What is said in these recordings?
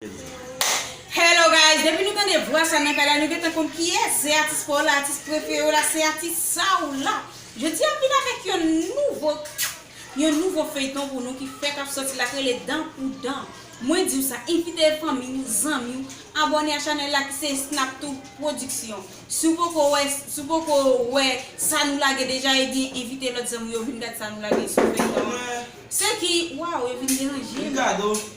Hello guys depi nou tande vwa sa nan kay la nou gentan konn kiyès se atis paw la atis preferew la se atis Saw la jodia ap vin avèk yon nouvo yon nouvo feyton pou nou ki fèk ap sòti la k rele dan pou dan mwen diw sa envite fanmiw zanmiw abòne a chanèl la ki se Esnaptou production siw poko wè siw poko wè sa nou lage deja ebyen envite lòt zanmiw yo vin gad sa nou lage sou feyton an se ki waw yo vin deranjem.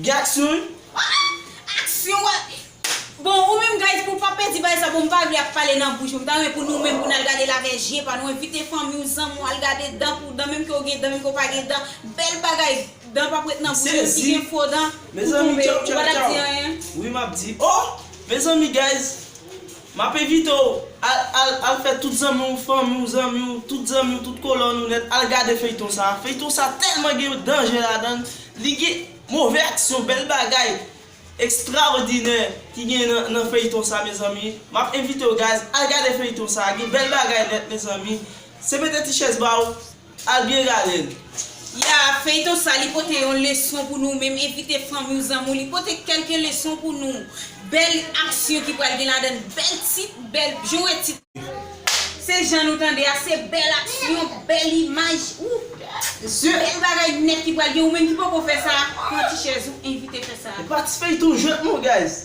Gen aksyon wi. Ahh aksyon wa Bon ou menm guys pou pa pèdi bagay sa bon m pa vle ap pale nan bouch mwen m ta renmen pou nou menm pou n al gade l avè je pa nou envite fanmi w zanmi w al gade dan pou dan menm ke w gen dan menm ke w pa gen dan bèl bagay dan pap ret nan bouch menm si gen fo dan pou tonbe ou pa tap di anyen. Wi map di oh mezanmi guys Map envite w al al al fè tout zanmi w fanmi w zanmi w tout zanmi w tout kolòn ou nèt al gade feyton sa feyton sa tèlman gen danje ladan l li gen move aksyon bèl bagay ekstraòdinè ki gen nan nan feyton sa mezanmi map envite w guys al gade feyton sa gen bèl bagay nèt mezanmi se mete ti chèz ba w Al byen gade l. Ya feyton sa li pote yon leson pou nou menm envite fanmiw zanmiw li pote kelke leson pou nou bel aksyon ki pral gen ladann bel tit bel jan wè tit se jan nou tande a se bel aksyon bel imaj ooh bel bagay nèt ki pral gen ou menm ki poko fè sa pran ti chèz ou envite fè sa. Patispe tou jwenn nou guys.